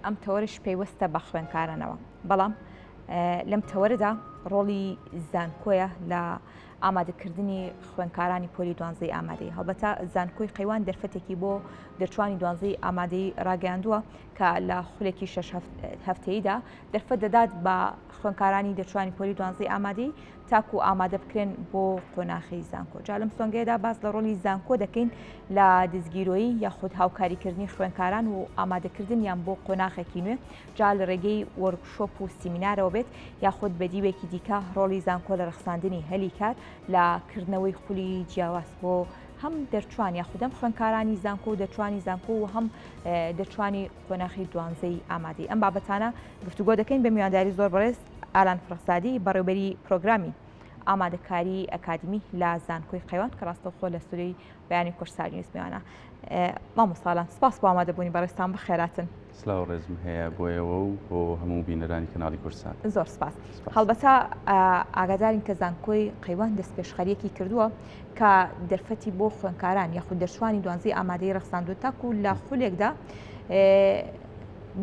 ئەم تەوەرەش پەیوەستە بە خوێنکارانەوە بەڵام لەم تەوەرەدا ڕۆڵی زانکۆیە لە ئامادەکردنی خوێنکارانی پۆلی دوانزەی ئامادەی هەڵبەتە زانکۆی قەیوان دەرفەتێکی بۆ دەرچوانی دوانزەی ئامادەی ڕاگەیاندووە کە لە خولێکی شش هەفتەیدا دەرفەت دەدات بە خوێنکارانی دەرچوانی پۆلی دوانزەی ئامادەی تاکو ئامادە بکرێن بۆ قۆناخی زانکۆ جا لەم سۆنگەیەدا باس لە ڕۆلی زانکۆ دەکەین لە دزگیرۆیی یاخود هاوکاریکردنی خوێنکاران و ئامادەکردن یان بۆ قۆناخێکی نوێ جا لە ڕێگەی وەرکشۆپ و سیمینارەوە بێت یاخود بە دیوێکی دیکە ڕۆلی زانکۆ لە ڕخساندنی هەلی کار لە کردنەوەی خولی جیاواز بۆ هەم دەرچوان یاخودەم خوێنکارانی زانکۆ و دەچوانی زانکۆ و هەم دەچوانی قۆناخی دوانزەی ئامادەی ئەم بابەتانە گفتوگۆ دەکەین بە میوانداری زۆر بەڕێز ئالان فرەسادی بەڕێوبەری پرۆگرامی ئامادەکاری ئەکادمی لە زانکۆی قەیوان کە ڕاستەوخۆ لە سوری بەیانی کورسار نیوز میوانە مامۆساالان سپاس بۆ ئامادەبوونی بەڕێستان بخێراتن سلااو ڕێزم هەیە بۆیەوە و بۆ هەموو بینەرانی کەناڵی کورسان زۆر سپاس هەڵبەتا ئاگادارین کە زانکۆی قەیوان دەست پێشخەریەکی کردووە کە دەرفەتی بۆ خوێنکاران یاخود دەرچوانی دوانزی ئامادەی ڕخساندو تاکو لە خولێکدا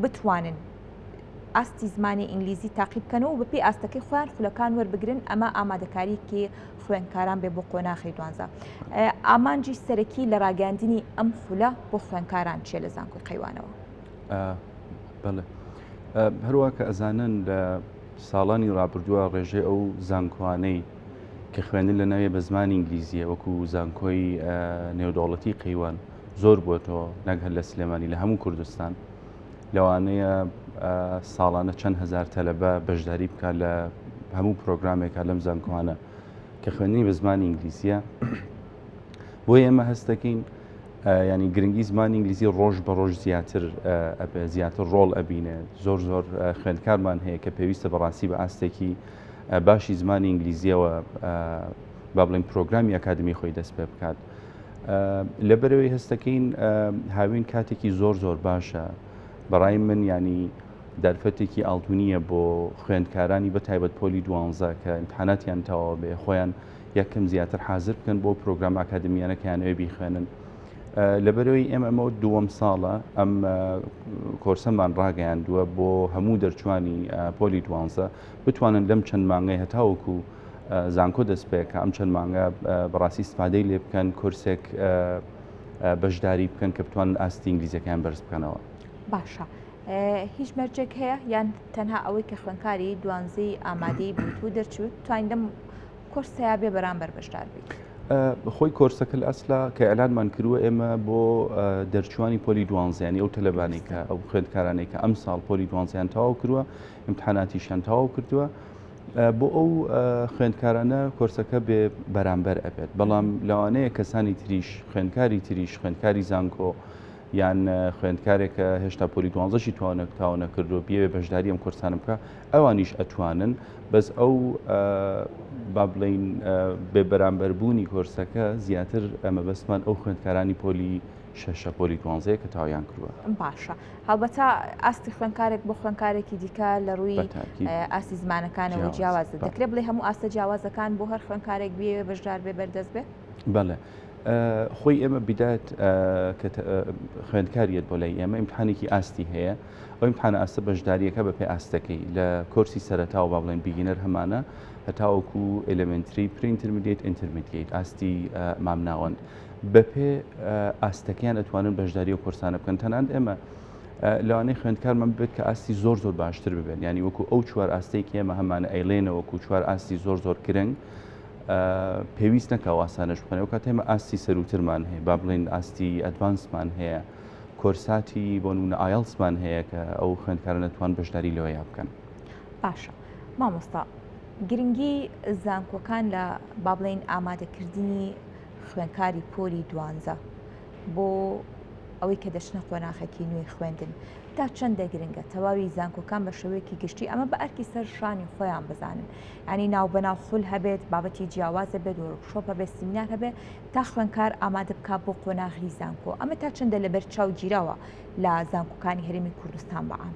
بتوانن ئاستی زمانی ئینگلیزی تاقی بکەنەوە بەپی ئاستەکەی خۆیان خولەکان وەربگرن ئەمە ئامادەکاریکی خوێنکاران بێ بۆ قۆناخی دوانزە ئامانجی سەرەکی لە ڕاگەاندنی ئەم خولە بۆ خوێنکاران چێ لە زانکۆی قەیوانەوە هەروە کە ئەزانن لە ساڵانی ڕابردووە ڕێژەی ئەو زانکۆانەی کە خوێندن لەناوێ بە زمانی ئینگلیزیە وەکو زانکۆی نێودەوڵەتی قەیوان زۆر بووەتەوە نەک هەر لە سلێمانی لە هەموو کوردستان لەوانەیە ساڵانە چەند هزار تەلەبە بەشداری بکات لە هەموو پرۆگرامێکە لەم زانکۆانە کە خوێندنی بە زمانی ئینگلیزیە بۆ ئێمە هەست دەکەین ینی گرنگی زمانی ئینگلیزی ڕۆژ بە ڕۆژ زیاتر زیاتر ڕۆڵ ئەبینێ زۆر زۆر خوێندکارمان هەیە کە پێویستە بەڕاستی بە ئاستێکی باشی زمانی ئینگلیزیەوە با بڵین پرۆگرامی ئەکادمی خۆی دەست پێ بکات لە بەرەوەی هەستەکەین هاوین کاتێکی زۆر زۆر باشە بەڕای من ینی دەرفەتێکی ئاڵتونیە بۆ خوێندکارانی بە تایبەت پۆلی دوانزە کە امتحاناتیان تەواو بێ خۆیان یەکەم زیاتر حاضر بکەن بۆ پرۆگرام ئاکادمیانەکەیان ئەوێ بیخوێنن لەبەرەوەی ئێمە ئەمە دووەم ساڵە ئەم کۆرسەمان ڕاگەیاندووە بۆ هەموو دەرچوانی پۆلی دوانزە بتوانن لەم چەند مانگەی هەتاوەکو زانکۆ دەست پێ کە ئەم چەند مانگە بەڕاستی سپادەی لێ بکەن کورسێک بەشداری بکەن کە بتوان ئاستی ئینگلیزیەکەیان بەرز بکەنەوە باشە. هیچ مەرجێک هەیە یان تەنها ئەوەی کە خوێنکاری دوانزی ئامادەی بوویت و دەرچوت توانین لەم کۆرسەیە بێ بەرامبەر بەشدار بیت. خۆی کۆرسەکە لە ئەسلا کە ئەلانمان کردووە ئێمە بۆ دەرچوانی پۆلی دوانزیانی ئەو تەلبانێکە ئەو خوێندکارانێکە ئەم ساڵ پۆلی دوانزیان تەواو کردووە امتحاناتیشیان تەواو کردووە بۆ ئەو خوێندکارانە کۆرسەکە بێ بەرامبەر ئەبێت بەڵام لەوانەیە کەسانی تریش خوێندکاری تریش خوێندکاری زانکۆ یان خوێندکارێکە هێشتا پۆلی دوانزەشی توانە تاوانە کردو بێ بەشداری ئەم کورسان بکە ئەوانیش ئەتوانن بەس ئەو با بڵین بێ بەرامبەربوونی کۆرسەکە زیاتر ئەمە بەسمان ئەو خوێندکارانی پۆلی شەشە پۆلی دوانزەیە کە تاویان کردووە باشە هەڵبەتە ئاستی خوێنکارێک بۆ خوێنکارێکی دیکە لە ڕووی ئاستی زمانەکانەوە جیاواز دەکرێت بڵێ هەموو ئاستە جیاوازەکان بۆ هەر خوێنکارێک بێ بەشدار بێ بەردەست بێ بەڵێ خۆی ئێمە بدات کە خوێندکاریت بۆ لای ئێمە ئیمتحانێکی ئاستی هەیە ئەو ئیمتحان ئاستە بەشداریەکە بە پێ ئاستەکەی لە کۆرسی سەرتاوە با بڵێن بیگینەر هەمانە هەتاوەکو ئەلمنتری پرینترمیدیت ئینترمیدیت ئاستی مامناوەند بەپێێ ئاستەکەیان ئەتوانن بەشداری و کورسانە بکەن تەنان ئێمە لەوانەی خوێندکارمان ببێت کە ئاستی زۆر زۆر باشتر ببێن ینی وەکو ئەو چوار ئاستەی کێمە هەمانە ئەیلێنە وەکو چوار ئاستی زۆر زۆر کرنگ پێویست نەکە واسانەش بخەنەوە کە تێمە ئاستی سەروترمان هەیە با بڵین ئاستی ئەدوانسمان هەیە کۆرساتی بۆ نونە ئایلسمان هەیە کە ئەو خوێندکارە نەتوان بەشداری لەوە یا بکەن باشە مامۆستا گرنگی زانکۆکان لە بابلین ئامادەکردنی خوێندکاری پۆلی دوانزە بۆ ئەوەی کە دەچنە قۆناخێکی نوێی خوێندن تا چەندە گرنگە تەواوی زانکۆکان بە شێوەیەکی گشتی ئەمە بە ئەرکی سەر شانی خۆیان بزانن ینی ناو بەناو خول هەبێت بابەتی جیاوازە بێت و شۆپە بێت سیمینار هەبێت تا خوێنکار ئامادە بک بۆ قۆناغی زانکۆ ئەمە تا چەندە لەبەر چاو گیرەوە لە زانکۆکانی هەرمی کوردستان بەعام.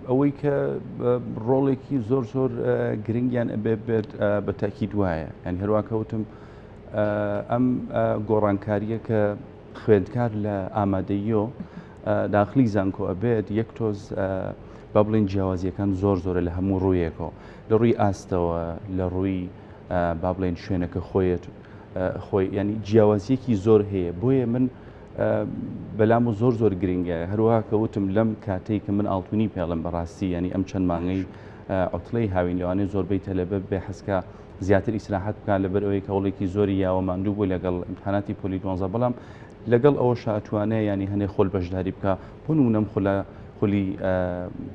ئەوەی کە ڕۆڵێکی زۆر زۆر گرنگیان ئەبێ بێت بە تاکیید وایە یان هەرواکەوتم ئەم گۆڕانکاریە کە خوێندکار لە ئامادەییۆ داخلی زانکۆ ئەبێت یەک تۆز با بڵین جیاوازیەکان زۆر زۆرە لە هەموو ڕوویەکەوە لە ڕووی ئاستەوە لە ڕووی با بڵێن شوێنەکە خۆیەت خۆی ینی جیاوازیەکی زۆر هەیە بۆیە من بەلام و زۆر زۆر گرنگە هەروها کە وتم لەم کاتێک کە من ئاڵتونی پێڵم بەڕاستی ینی ئەم چەند مانگەی ئۆتلەی هاوین لەوانەیە زۆربەی تەلەبە بێ حەسکە زیاتر ئیسراحەت بکات لەبەر ئەوەی کەوڵێکی زۆری یاوە ماندوو بوو لەگەڵ امتحاناتی پۆلی دوانزە بەڵام لەگەڵ ئەوە شاتوانە ینی هەنێ خۆل بەشداری بکە بۆن و نەم خولە خولی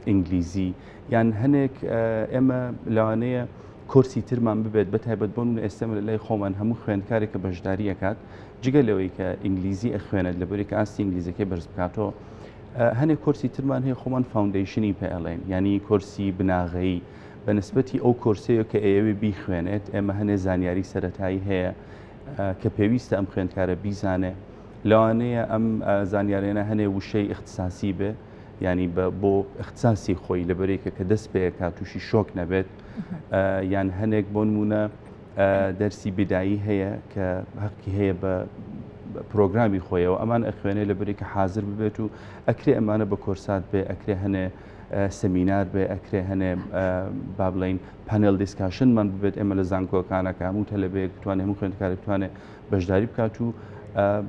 ئینگلیزی یان هەنێک ئێمە لەوانەیە کۆرسی ترمان ببێت بە تایبەت بۆ من ئێستەمە لە لای خۆمان هەموو خوێندکارێک کە بەشداری ئەکات جگە لەوەی کە ئینگلیزی ئەخوێنێت لە بەرێک ئاستی ئینگلیزەکەی بەرز بکاتەوە هەنێک کۆرسی ترمان هەیە خۆمان فاوندیشنی پێڵێن ینی کۆرسی بناغەیی بە نسبەتی ئەو کۆرسەیە کە ئێوێ بیخوێنێت ئێمە هەنێ زانیاری سەتایی هەیە کە پێویستە ئەم خوێندکارە بیزانێ لەوانەیە ئەم زانیارێنە هەنێ وشەی اختصاسی بێ ینی بە بۆ اختصاسی خۆی لەبەرێکە کە دەست پێکات تووشی شۆک نەبێت یان هەنێک بۆ نمونە دەرسی بدایی هەیە کە هەقی هەیە بە پرۆگرامی خۆیەوە ئەمان ئەخوێنێ لە بریکە حاضر ببێت و ئەکرێ ئەمانە بە کۆرسات بێ ئەکرێ هەنێ سمینار بێ ئەکرێ هەنێ با بڵین پەنێل دیسکاشنمان ببێت ئێمە لە زانکۆکانەکە هەموو تەلبەیەک بتوانێت هەموو خوێندکارێک بتوانێت بەشداری بکات و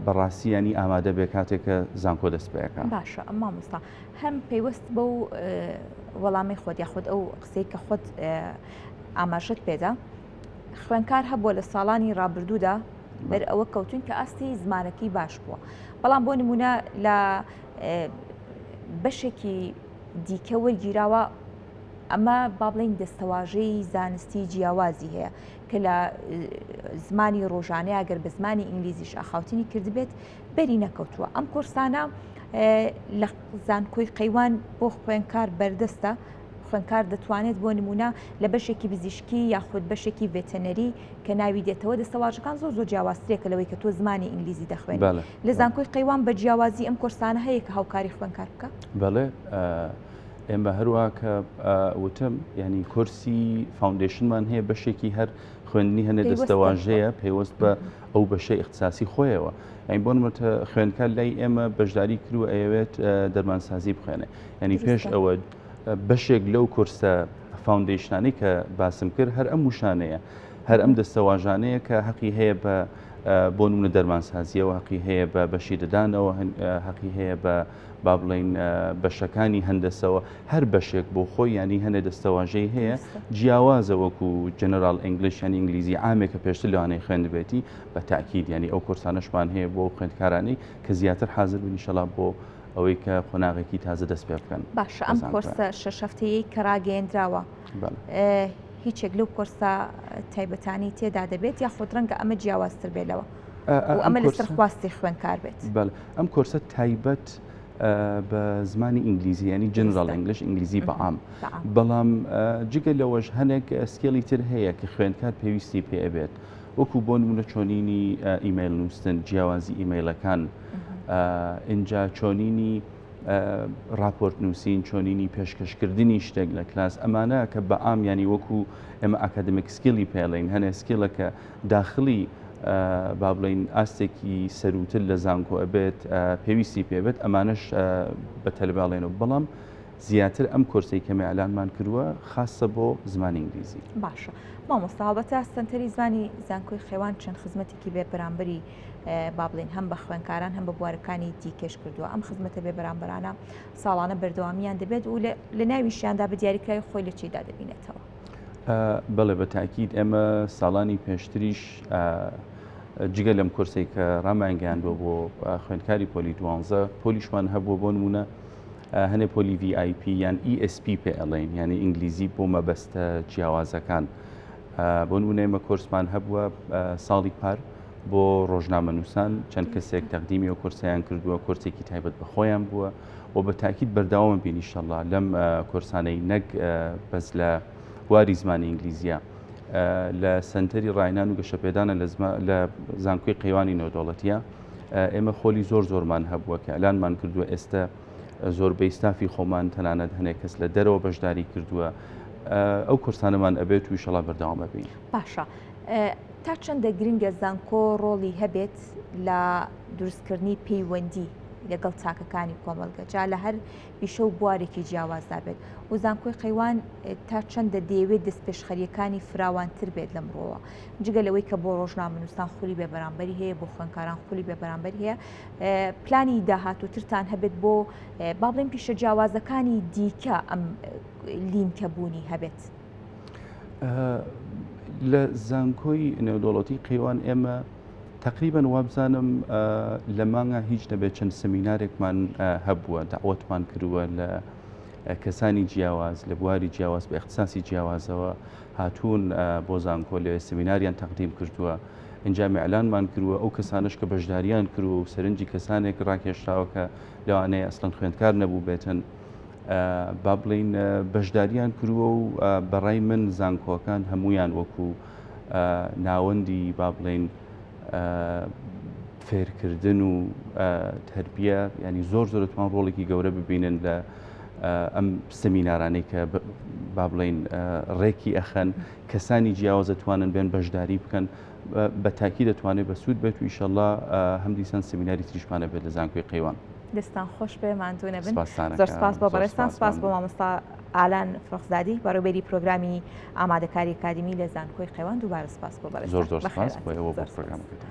بەڕاستی ینی ئامادە بێ کاتێک کە زانکۆ دەست پێەکە باشە ئەم مامۆستا هەم پەیوەست بە و وەڵامی خۆت یاخود ئەو قسەی کە خۆت ئاماژت پێدا خوێنکار هەبووە لە ساڵانی ڕابردوودا بەر ئەوە کەوتون کە ئاستی زمانەکەی باش بووە بەڵام بۆ نمونە لە بەشێکی دیکە وەرگیراوە ئەمە با بڵین دەستەواژەی زانستی جیاوازی هەیە کە لە زمانی ڕۆژانەیە گەر بە زمانی ئینگلیزیش ئاخاوتنی کردبێت بەری نەکەوتووە ئەم کۆرسانە لە زانکۆی قەیوان بۆ خوێنکار بەردەستە خوێنکار دەتوانێت بۆ نمونە لە بەشێکی بزیشکی یاخود بەشێکی ڤێتەنەری کە ناوی دێتەوە دەستەواژەکان زۆر زۆر جیاوازترێکە لەوەی کە تۆ زمانی ئینگلیزی دەخوێن لە زانکۆی قەیوان بە جیاوازی ئەم کورسانە هەیە کە هاوکاری خوێنکار بکە بەڵێ ئێمە هەروە کە وتم ینی کورسی فاندشنمان هەیە بەشێکی هەر خوێندنی هەنێ دەستەواژەیە پێوەست بە ئەو بەشە اختصاسی خۆیەوە ئەین بۆن وتە خوێندکە لای ئێمە بەشداری کرو ئەوێت دەرمانسازی بخوێنێ ینی پێش ئەوە بەشێک لەو کورسە فاندشنانی کە باسم کرد هەر ئەم وشانەیە هەر ئەم دەستەواژانەیە کە حەقی هەیە بە بۆ نمونە دەرمانسازیەوە حەقی هەیە بە بەشی ددانەوە حەقی هەیە بە با بڵێین بەشەکانی هەندەسەوە هەر بەشێک بۆ خۆی ینی هەنێ دەستەواژەی هەیە جیاوازە وەکو جەنەرال ئەنگلیش یان ئینگلیزی عامێکە پێشتر لەوانەیە خوێندبێتی بە تاکیید ینی ئەو کورسانەشمان هەیە بۆ خوێندکارانی کە زیاتر حاضر بنیشەڵا بۆ ئەوەی کە قۆناغێکی تازە دەست پێ بکەن باش ئەم کۆرسە شەشەفتەیە کە ڕاگەیەندراوە هیچێک لەو کۆرسە تایبەتانی تێدا دەبێت یاخود ڕەنگە ئەمە جیاوازتر بێت لەوە. ئەمە لەسەر خواستی خوێنکار بێت بەڵ ئەم کۆرسە تایبەت بە زمانی ئینگلیزی ینی جنرال ئەنگلش ئینگلیزی بەعام بەڵام جگە لەوەش هەنێک سکێڵی تر هەیە کە خوێندکار پێویستی پێ بێت وەکو بۆ نمونە چۆنینی ئیمەیل نووسن جیاوازی ئیمەیلەکان ئینجا چۆنینی راپۆرت نووسین چۆنینی پێشکەشکردنی شتێک لە کلاس ئەمانە کە بە ئامیانی وەکو ئێمە ئاکادمیک سکیلی پێڵین هەنێ سکیلەکە داخلی با بڵێین ئاستێکی سەرووتر لە زانکۆ ئەبێت پێویستی پێبێت ئەمانەش بە تەلباڵێنەوە بەڵام زیاتر ئەم کۆرسی کەمە ئەلانمان کردووە خاصە بۆ زمانی ئینگلیزی باشە مامۆستاابەتە سنتەری زمانی زانکۆی خێوان چەند خزمەتێکی بێ بەرامبەری با بڵین هەم بە خوێنکاران هەم بە بوارەکانی دیکەش کردووە ئەم خزمەتە بێ بەرامبەرانە ساڵانە بەردەوامیان دەبێت و لە ناویشیاندا بە دیاریکراوی خۆی لە چیدا دەبینێتەوە بەڵێ بە تاکیید ئێمە ساڵانی پێشتریش جگە لەم کورسی کە ڕامانگەیاندوە بۆ خوێندکاری پۆلی دوانزە پۆلیشمان هەبوو بۆ نمونە هەنێ پۆلی VIP یان ESP پێ ئەڵێن یعنی ئینگلیزی بۆ مەبەستە جیاوازەکان بۆ نمونەیمە کورسمان هەبووە ساڵی پار بۆ ڕۆژنامە نووسان چەند کەسێک تەقدیمی و کورسیان کردووە کورسێکی تایبەت بەخۆیان بووە و بە تاکیید بەرداوامە بین ئیشەڵا لەم کۆرسانەی نەک بەس لە واری زمانی ئینگلیزیە لە سنتەری ڕاینان و گەشەپێدانە لە زانکۆی قەیوانی نۆدۆڵەتە ئێمە خۆلی زۆر زۆرمان هەبووە کە ئەلانمان کردووە ئێستا زۆربەی ستافی خۆمان تەنانەت هەنێک کەس لە دەرەوە بەشداری کردووە ئەو کورسانەمان ئەبێت و شڵا بەرداوامە بین باشە تا چەندە گرنگە زانکۆ ڕۆڵی هەبێت لە دروستکردنی پەیوەندی لەگەڵ چاکەکانی کۆمەڵگە جا لە هەر پیشە و بوارێکی جیاوازدا بێت و زانکۆی قەیوان تا چەندە دەیەوێت دەست پێشخەریەکانی فراوانتر بێت لەم ڕۆوە جگە لەوەی کە بۆ ڕۆژنامەنووسان خولی بێ بەرامبەری هەیە بۆ خوێنکاران خولی بێ بەرامبەر هەیە پلانی داهاتووترتان هەبێت بۆ با بڵێن پیشە جیاوازەکانی دیکە ئەم لینکە بوونی هەبێت. لە زانکۆی نێودوڵەتی قەیوان ئێمە تەقریبەن وابزانم لە مانگا هیچ نەبێت چەند سمینارێکمان هەبووە داوەتمان کردووە لە کەسانی جیاواز لە بواری جیاواز بە اختصاسی جیاوازەوە هاتوون بۆ زانکۆ لە سمیناریان تەقدیم کردووە ئەنجا میعلانمان کردووە ئەو کەسانش کە بەشداریان کردووە و سەرنجی کەسانێک ڕاکێشراوە کە لەوانەیە ئەسلەن خوێندکار نەبوو بێتن با بڵین بەشداریان کردووە و بەڕای من زانکۆکان هەمویان وەکوو ناوەندی با بڵێین فێرکردن و تربیە ینی زۆر زۆر توان ڕۆڵێکی گەورە ببینن لە ئەم سمینارانەی کە با بڵین ڕێکی ئەخەن کەسانی جیاواز دەتوانن بێن بەشداری بکەن بە تاکی دەتوانێت بە سوود بێت و ئیشەله هەم دیسان سمیناری تریشمانە بێت لە زانکۆی قەیوان دەستان خۆش بێ ماندوونە بن زۆر سپاس بۆ بەڕێستان سپاس بۆ مامۆستا ئالان فرخزادی بەڕێوبەری پرۆگرامی ئامادەکاری ئەکادیمی لە زانکۆی قەیوان دووبارە سوپاس بۆ بەڕێزتان. زۆر زۆر سوپاس بۆ ئێوە بۆ پرۆگرامەکەتان.